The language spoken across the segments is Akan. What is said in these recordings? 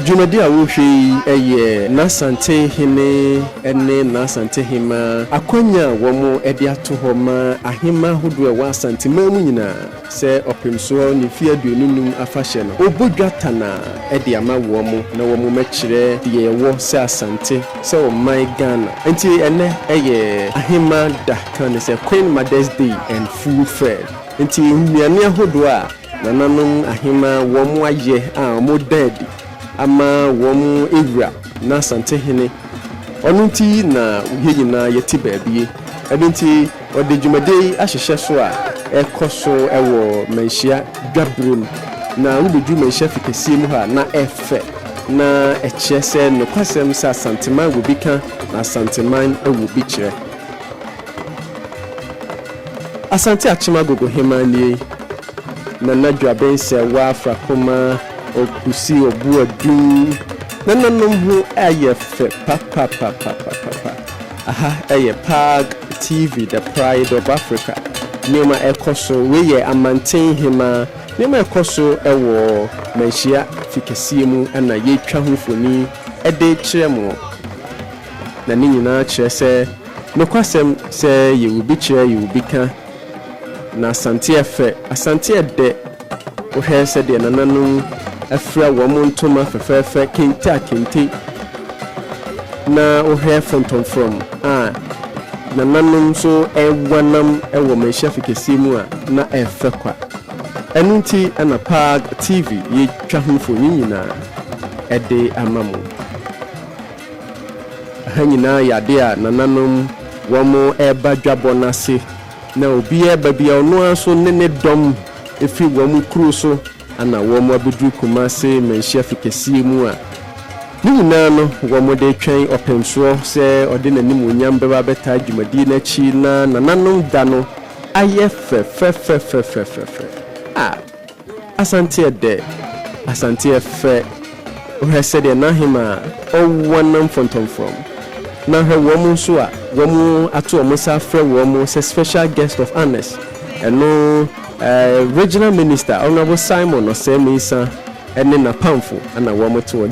Dwumadi a wohwɛ yi yɛ n'Asantehene ne n'Asantehemaa akwanya a wɔde ato hɔ ma ahemmaa ahodoɔ a ɛwɔ Asanteman mu nyinaa sɛ Ɔpemsoɔ ne mfeɛ aduonu nnum afahyɛ no wɔbɔ dwa tanaa de ama wɔn na wɔmmɛkyerɛ deɛ ɛwɔ sɛ Asante sɛ ɔman Ghana nti ɛnnɛ yɛ Ahemmaa da ka ne sɛ Queen Mother's Day and Full Fed. Ntsi nnuane ahodoɔ a nananom ahemaa wɔn ayɛ a wɔn da adi ama wɔn ewura na Asante hene, ɔno nti na yɛ nyinaa yɛ te baabi yi. Ɛno nti wɔde dwumadie yi ahyehyɛ so a ɛkɔ so wɔ manhyia dwa berɛ mu. Na wo bɛduru manhyia fi kɛseɛ mu hɔ a na ɛfɛ na ɛkyerɛ sɛ nokwasɛm sɛ Asanteman wɔ bi ka na Asanteman wɔ bi kyerɛ. Asante Akyem Agogo Hemaa nie yi, Nana Dwabɛn Sɛɛwaa Afrakoma Ɔkusi Ɔboadum Nananom ho ayɛ fɛ papapapapapa Aha yɛ Paag TV the pride of Africa Nneɛma ɛkɔ so Wei yɛ Amanten Hemaa Nneɛma ɛkɔ so wɔ Manhyia fi kɛseɛ mu na yɛtwa ho mfoni de kyerɛ mo Na ne nyinaa kyerɛ sɛ Nokwasɛm sɛ yewubi kyerɛ yewubi ka, na asanteɛ fɛ, asanteɛ dɛ. Wohwɛ sɛdeɛ nananom afira wɔn ntoma fɛfɛɛfɛ, kente a kente, na wohwɛ fɔntɔmfrɔm a nananom nso rewanam wɔ mmarahyia fikɛseɛ mu a, na ɛfɛ kwa. Ɛno nti na Paag TV yetwa ho mfoni nyinaa de ama mo. Ɛha nyinaa yɛ ade a nananom wɔn reba dwabɔ no ase na obiara ba bi a ɔno ara nso ne ne dɔm firi wɔn kuro so na wɔn abɛduru Kumase manhyia fi kɛseɛ mu a ne nyinaa no wɔn de retwɛn ɔpɛmsoɔ sɛ ɔde n'animuonyam bɛba abɛtaa dwumadie no akyi na nananom da no ayɛ fɛfɛfɛfɛfɛfɛfɛ a Asante yɛ dɛ, Asante yɛ fɛ, hwɛ sɛdeɛ n'ahemaa ɔwɔnam mfɔntɔmfrɔm, na hwɛ wɔn nso a wɔn ato wɔn nsa afrɛ wɔn sɛ special guest of honours, ɛno eh, Regional Minister Honourable Simon Osei Mensah ne n'apamfo na wɔn to wɔn.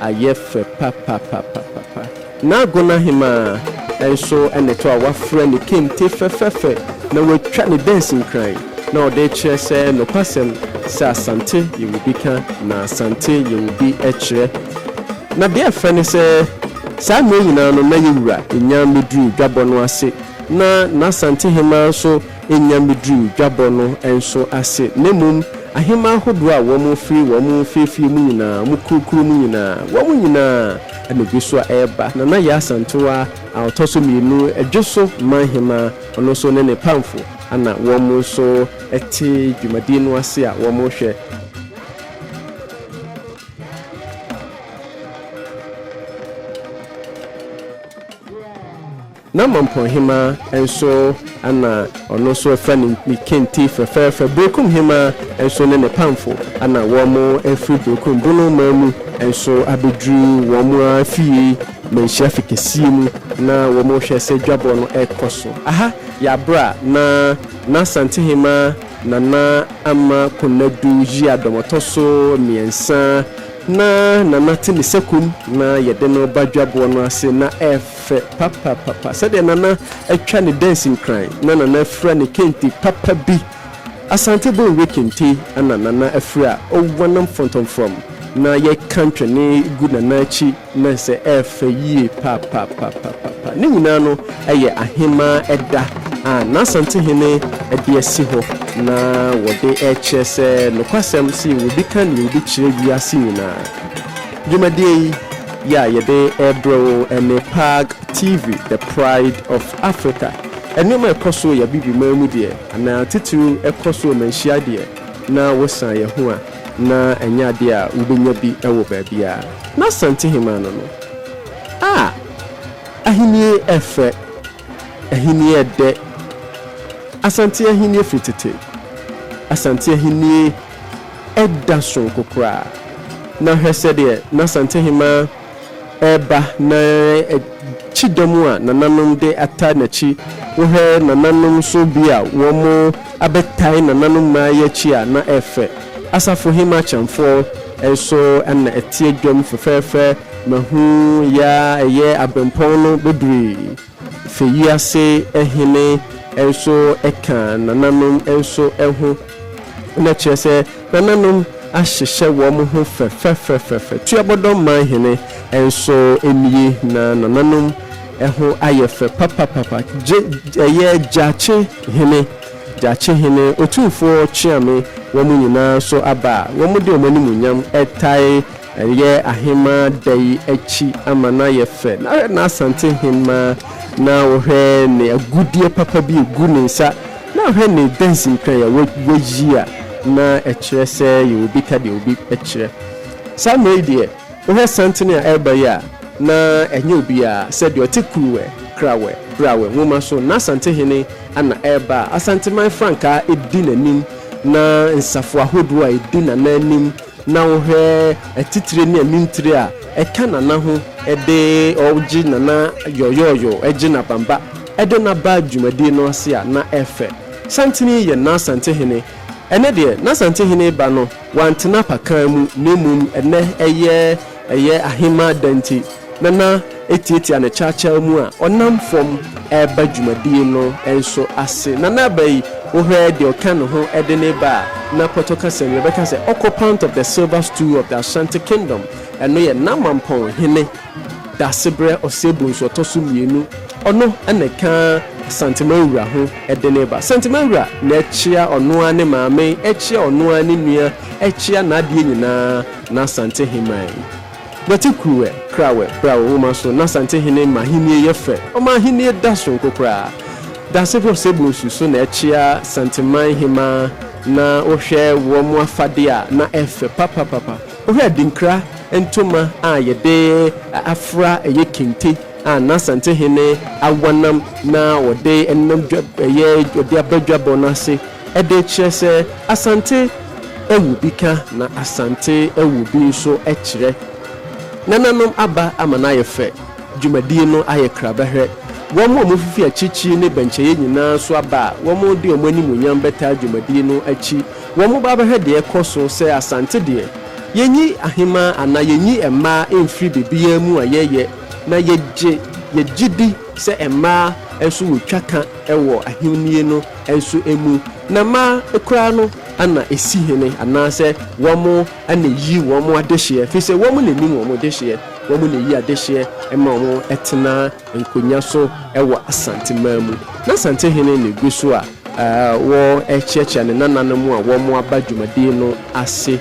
Ayɛ fɛ papapapapa. Na Agonahemaa nso ne to a wafura ne kente fɛfɛɛfɛ na watwa ne dansinkran na ɔde rekyerɛ sɛ nokwasɛm sɛ Asante yɛ wo bi ka na Asante yɛ wo bi kyerɛ. Na deɛ ɛfɛ ne sɛ saa mmerɛ nyinaa no na yɛwura Nyan mmɛduruu dwabɔ no ase na n'Asantehemaa nso nnya mmeduruu dwabɔ no nso ase, na mmom ahemmaa ahodoɔ a wɔfiri wɔn mfeefeɛ mu nyinaa, wɔn nkurokurow mu nyinaa, wɔn nyinaa na ɛgu so ara reba. Na na Yasantewa a ɔtɔ so mmienu dwe so ma ahemmaa, ɔno nso ne ne pamfo, na wɔn nso te dwumadie no ase a wɔhwɛ. Na Mampɔn Hemaa nso na ɔno nso afira ne ne kente fɛfɛɛfɛ. Berekum Hemaa nso ne ne pamfo na wɔafiri Berekum Bono man mu nso abɛduru wɔn ara fie Manhyia Afe Kɛseɛ mu na wɔrehwɛ sɛ dwabɔ no rekɔ so. Aha yɛ aberɛ a na na Asante Hemaa Nana Ama Konadu Yiadom ɔtɔ so mmiɛnsa. Na Nana te ne sakum na yɛde no ba dwaboɔ no ase na ɛref. fɛ papapapa sɛdeɛ Nana atwa ne dansi nkran na Nana afira ne kente papa bi. Asante Bonwire kente na Nana afira a ɔwanam fɔntɔmfrɔm na yɛka ntwene gu Nana akyi na ɛsɛ ɛɛfɛ yie papapapapapa. Ne nyinaa no yɛ Ahemaa ɛda a n'Asantehene de asi hɔ na wɔde rekyerɛ sɛ nokwasɛm se obi ka deɛ obi kyerɛ wiase nyinaa. Dwumadie yi yɛ a yɛde rebrɛ wo ne Paag TV, the pride of Africa. Nneɛma a ɛkɔ so wɔ yɛn Abibiman mu deɛ, anaa titiriw ɛkɔ so wɔ manhyia deɛ, na wosan yɛn ho a, na ɛnyɛ adeɛ a wobɛnya bi wɔ baabiara. N'Asante Hemaa no no. Ah! Ahennie ɛfɛ, ahennie ɛdɛ, Asante ahennie firi tete, Asante ahennie ɛda soronko koraa. Na hwɛ sɛdeɛ n'Asantehemaa reba na kyidɔm a nananom de ata n'akyi, wohwɛ nananom nso bi a wɔabɛtae nananom mmaa yi akyi a na ɛfɛ. Asafohema kyɛmfoɔ nso na ɛteɛ dwam fɛfɛɛfɛ, mahu yea ɛyɛ abempɔn no bɛdurii. Afei wiase hene nso ka nananom nso ho, na kyerɛ sɛ nananom ahyehyɛ wɔn ho fɛfɛfɛfɛfɛ. Tuabɔdɔm man hene nso nie, na nananom ho ayɛ fɛ papapapa. Gye ɛyɛ Gyakye hene, Gyakye hene, Otumfoɔ Kyeame, wɔn nyinaa nso aba a, wɔde wɔn animuonyam tae Ɛyɛ ahemaa da yi akyi ama no ayɛ fɛ. Na hwɛ n'Asante hemaa, na wohwɛ ne agudeɛ papa bi ɛgu ne nsa, na hwɛ ne dansinkran a wayi a na ɛkyerɛ sɛ yɛ obi ka deɛ obi kyerɛ. Saa mmerɛ yi deɛ, wohwɛ santene a ɛreba yi a, na ɛnyɛ obiara sɛ deɛ ɔte kuruwɛ, krawɛ, brawɛ nwoma so, n'Asantehene na ɛreba a Asanteman frankaa di n'anim, na nsafo ahodoɔ a ɛdi n'anananim, Na wohwɛ atitire ne amintire a ɛka Nana ho de ɔgye Nana yɔyɔɔyɔ gye n'abamba de no aba dwumadie no ase a na ɛfɛ. Santene yi yɛ N'Asantehene. Ɛnɛ deɛ N'Asantehene ba no wantena pakaa mu na mmom ɛnɛ ɛyɛ. Ɛyɛ ahemmaa da nti, na na etiatia ne kyaakyaaw mu a ɔnam fam reba dwumadi no nso ase. Nana ba yi, wohwɛ deɛ ɔka ne ho de no reba a, na pɔtɔ kasa mu yɛbɛka sɛ, Occupant of the silver stool of the Ashanti Kingdom, ɛno yɛ Namampɔn hene, Dasebrɛ Osei-Bonsu a ɔtɔ so mmienu, ɔno na ɛka Santemanwura ho de no reba. Santemanwura na ɛkyea ɔno ara ne maame, ɛkyea ɔno ara ne nua, ɛkyea n'adeɛ nyinaa. n'Asantehemman mu. Dɔte kuru ɛ, kra ɛ, bra ɔ woma so n'Asantehene ma ahennie yɛ fɛ, ɔma ahennie da sononko koraa. Dase bɔ sɛ bonsu so na ɛkyea Santeman Hemaa na wohwɛ wɔn afadeɛ a na ɛfɛ papapapa. Wohwɛ adinkra ntoma a yɛde afra ɛyɛ kente a n'Asantehene awanam na ɔde nam dwa ɛyɛ ɔde aba dwabɔ no ase. Ɛde kyerɛ sɛ Asante awu bi ka na Asante awu bi nso kyerɛ nananom aba ama no ayɛ fɛ. Dwumadie no ayɛ krabɛhwɛ. Wɔn a wɔfifi akyirikyiri ne bɛnkyɛeɛ nyinaa so aba a wɔde wɔn animuonyam bɛtaa dwumadie no akyi. Wɔba bɛhwɛ deɛ ɛrekɔ so sɛ Asante deɛ, yɛnyi ahemaa anaa yɛnyi mmaa mfiri biribiara mu a yɛyɛ na yɛgye yɛn gyidi sɛ mmaa nso wɔtwa ka wɔ ahennie no nso emu, na mmaa koraa no na esi hene, anaasɛ wɔn na eyi wɔn adehyeɛ, ɛfiri sɛ wɔn na enim wɔn dehyeɛ, wɔn na eyi adehyeɛ ma wɔtena nkonnwa so wɔ Asanteman mu. Na Asantehene na egu so a wɔkyeakyea ne nananom a wɔaba dwumadie no ase.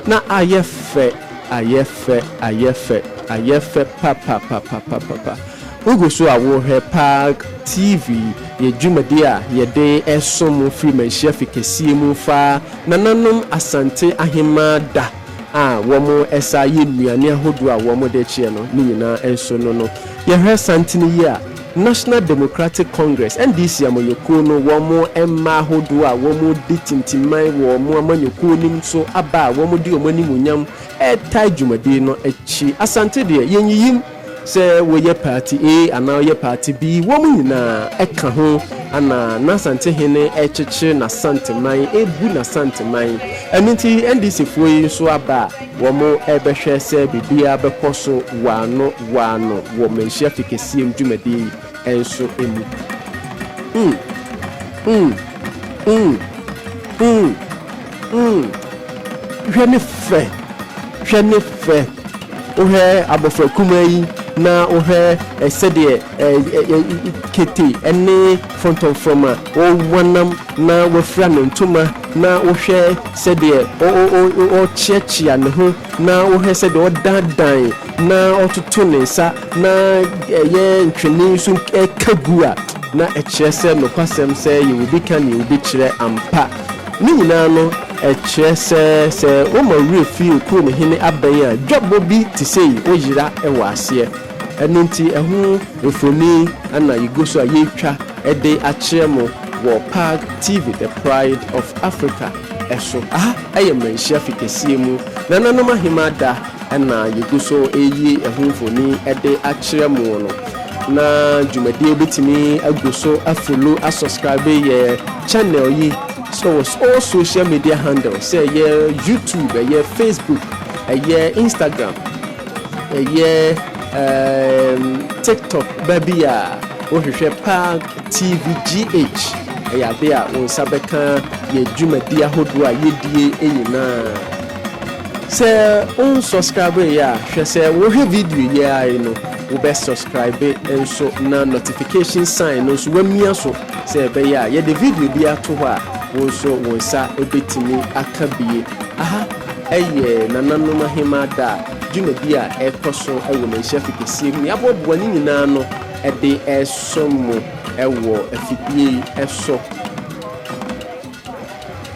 Na ayɛ fɛ, ayɛ fɛ, ayɛ fɛ, ayɛ fɛ papapapapapa. Wogu so a worehwɛ Park TV yɛ dwumadi a yɛde resom mo firi Manhyia Fi kɛseɛ mu fa nananom Asante Ahemaa da a wɔsa yɛ nnuane ahodoɔ a wɔde kyeɛ no ne nyinaa nso no no. Yɛhwɛ santene yi a National Democratic Congress, NDC, amanyɔkuo no wɔn mmaa ahodoɔ a wɔdi tintiman wɔ wɔn amanyɔkuo no mu nso aba a wɔde wɔn animuonyam retae dwumadi no akyi. Asante deɛ yɛnyiyim. Sɛ wɔyɛ party A anaa wɔyɛ party B, wɔn nyinaa ɛka ho na n'Asantehene ɛrekyekyere n'Asanteman, ɛrebu n'Asanteman. Ɛno nti NDC foɔ yi nso aba a wɔn ɛrebɛhwɛ sɛ biribiara bɛkɔ so waano waano wɔ Manhyia Fikesiem dwumadie yi nso mu. Umm umm umm umm. Mm, hwɛ ne fɛ, hwɛ ne fɛ. Wohwɛ abɔfra kumaa yi na wohwɛ eh, sɛdeɛ eh, eh, eh, kete ne fɔntɔmfrɔma wɔwanam na wafira ne ntoma na wohwɛ sɛdeɛ ɔ- ɔ- ɔ- ɔ- ɔkyeakyea ne ho na wohwɛ sɛdeɛ ɔdandan na ɔtoto ne nsa na ɛyɛ ntwene nso ɛka gu a na ɛkyerɛ sɛ nokwasɛm sɛ yɛwɔ bi ka ne yɛwɔ bi kyerɛ ampa. Ne nyinaa no, ɛkyerɛ sɛ, sɛ woma wo werɛ fi wo kurom hene abɛn a, dwabɔ bi te sei woyera wɔ aseɛ. Ɛno nti, ɛho mfoni na yɛgu so a yɛretwa de akyerɛ mo wɔ Pag TV, The Pride of Africa so. Aha yɛ Mmranhyia Fi Kɛseɛ mu, Nananom Ahemaa Da. na yegu so reyi ɛho mfoni de akyerɛ mo no, na dwumadie yi bɛtumi agu so afolo asɔskraibe yɛ channel yi so wɔ all social media handle sɛ ɛyɛ YouTube, ɛyɛ Facebook, ɛyɛ Instagram, ɛyɛ um, TikTok, baabi a wohwehwɛ Park TV GH ɛyɛ ade a wo nsa bɛka yɛ dwumadi ahodoɔ a yɛdie nyinaa. Sɛ wo nsɔskrabee yɛ a, hwɛ sɛ wo hwɛ video yi ara yi no wo bɛ sɔskrabe nso na notification sign no nso wamia so sɛ ɛbɛyɛ a yɛde video bi ato hɔ a wo nso wo nsa bɛtumi aka bie aha ɛyɛ nananom ahemaa da a dwumadi a ɛkɔ so wɔ manhyia fi kɛseɛ mu yɛaboaboa ne nyinaa ano de ɛresom mo wɔ afidie yi so.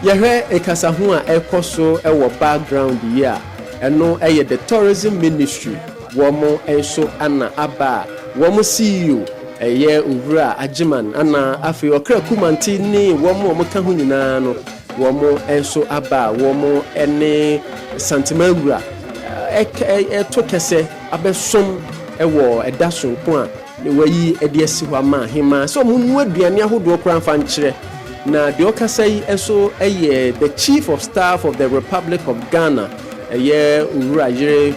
Yɛhwɛ nkasaho a ɛkɔ so wɔ background yi a, ɛno yɛ the tourism ministry wɔn nso na aba a wɔn CEO yɛ Owura Agyeman na afei Ɔkra Kumante ne wɔn a wɔka ho nyinaa no wɔn nso aba a wɔn ne Santemaa Wura ɛto kɛsɛ abɛsom wɔ ɛda sonko a Na wayi de asi hɔ ama ahemaa sɛ wɔnnoa aduane ahodoɔ koraa mfa nkyerɛ. Na deɛ ɔrekasa yi nso yɛ the Chief of Staff of the Republic of Ghana, ɛyɛ Owura Yere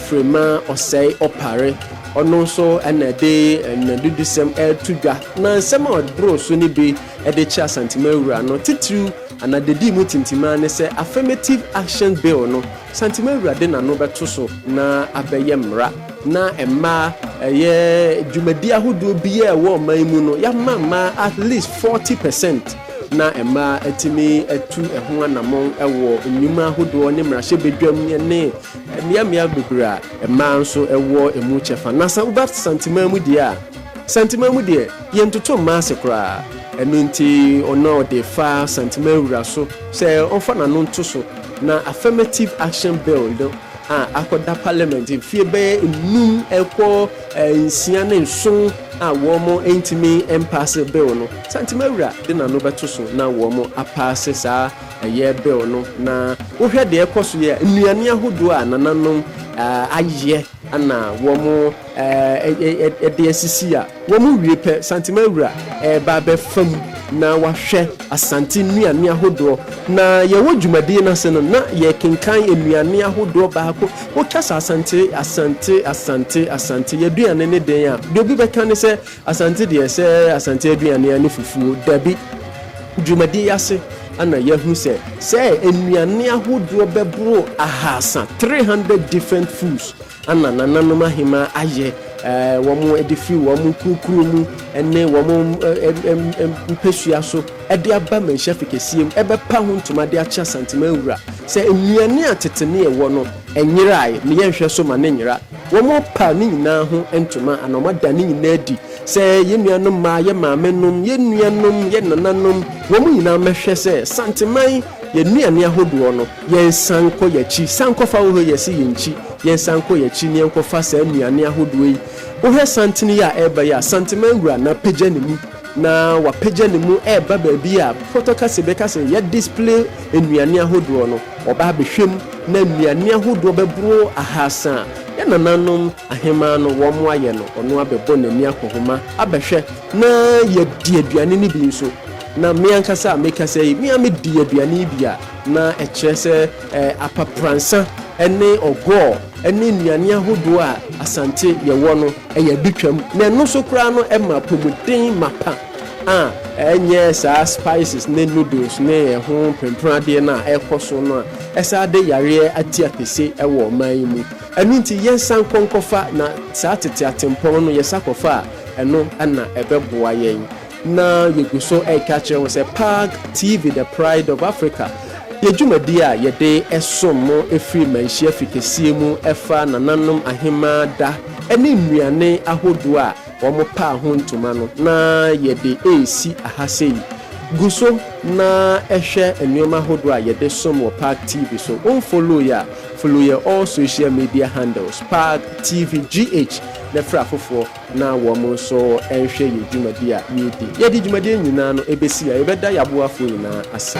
Frema Osei Opare. Ɔno nso na ɛde nnadudisɛm reto dwa. Na nsɛm a ɔboro so no bi de kyerɛ Asantema Awura no titiriw anaa dedii mu tintim ara ne sɛ Affirmative Action Bill no Santima Awurade n'ano bɛto so na abɛyɛ mmara na ɛma ɛyɛ dwumadi ahodoɔ biara a ɛwɔ ɔman mu no yɛama mmaa at least 40 percent na mmaa atumi atu ɛho anammɔn wɔ nnwuma ahodoɔ ne mmarahyɛbadwam ne mmeammea bebree a mmaa nso wɔ ɛmu kyɛfa na sɛ woba Santima mu deɛ a Santima mu deɛ Yɛntoto mmaa ase koraa. Ɛno nti, ɔno a ɔde fa Santima Awura so sɛ ɔmfa n'ano nto so na Affirmative Action Bill no a akɔda Parliament mfeɛ bɛyɛ nnum rekɔ nsia ne nson a wɔntumi mpaase Bill no, Santima Awura de n'ano bɛto so na wɔapaase saa ɛyɛ Bill no na wohwɛ deɛ ɛrekɔ so yi a, nnuane ahodoɔ a nananom ayɛ na wɔn. ɛɛ, de asisi a, wɔwie pɛ, Santemaa wura reba abɛfa mu na wahwɛ Asante nnuane ahodoɔ. Na yɛwɔ dwumadie no ase no, na yɛrekenkan nnuane ahodoɔ baako. Woka sɛ Asante, Asante, Asante, Asante, y'aduane ne dɛn a, deɛ obi bɛka ne sɛ, Asante deɛ, sɛ Asante aduane ara ne fufuo. Dabi. Dwumadie yi ase na yɛahu sɛ, sɛ nnuane ahodoɔ bɛboro ahasa, three hundred different foods, Ana nananom ahemaa ayɛ wɔn de firi wɔn nkurokuro mu ne wɔn mpasua so de aba mmarahyia fikasieɛ mu bɛpa ho ntoma de akyea Santeman wura sɛ nnuane a tete ne ɛwɔ no nyeraeɛ ne yɛnhwɛ so ma no nyera. Wɔpa ne nyinaa ho ntoma anaa wɔada ne nyinaa adi sɛ yɛn nuanom mmaa, yɛn maamenom, yɛn nuanom, yɛn nananom, wɔn nyinaa mmɛhwɛ sɛ Santeman yɛn nnuane ahodoɔ no. Yɛnsan nkɔ yɛn akyi. San nkɔfa wo ho, yɛse yɛn nkyi. Yɛnsan nkɔ yɛn akyi na yɛnkɔfa saa nnuane ahodoɔ yi. Wohwɛ santene yi a ɛreba yi a, Santeman wura no apagya ne mu, na wapagya ne mu reba baabi a bepɔtɔ kase bɛka sɛ yɛ display nnuane ahodoɔ no. Ɔba abɛhwɛ mu na nnuane ahodoɔ bɛboro ahaasa a yɛn nananom ahemaa no wɔayɛ no, ɔno abɛbɔ n'ani akɔ ho ma abɛhwɛ na yɛadi aduane no bi nso. Na me ankasa a mekasa yi, me ara medi aduane yi bi a, Na ɛkyerɛ sɛ apapransa ne ɔgɔɔ ne nnuane ahodoɔ a Asante yɛwɔ no yɛ adutwam. Na ɛno nso koraa no ma apɔmuden mapa a ɛnyɛ saa spices ne noodles ne ɛho mprempradeɛ no a ɛrekɔ so no a ɛsan de yareɛ ati apese wɔ ɔman yi mu. Ɛno nti yɛnsan nkɔ nkɔfa na saa tete atempɔn no yɛsa kɔfa a ɛno na ɛbɛboa yɛn. na yegu so reka akyerɛ ho sɛ PAAG TV, The Pride of Africa, yɛ dwumadi a yɛde som mo firi mmanhyia fi kɛseɛ mu fa Nananom Ahemaa Da ne nnuane ahodoɔ a wɔpaa ho ntoma no na yɛde resi ha sei. Gu so na hwɛ nnoɔma ahodoɔ a yɛde som wɔ PAAG TV so. Wo nfollow yɛ a, follow yɛn all social media handles, PAAG TV GH, na firi afoforɔ. na wɔn nso nhwɛ yɛn dwumadi a yɛredi. Yɛde dwumadie nyinaa no bɛsi a yɛbɛda yɛn aboafoɔ nyinaa ase.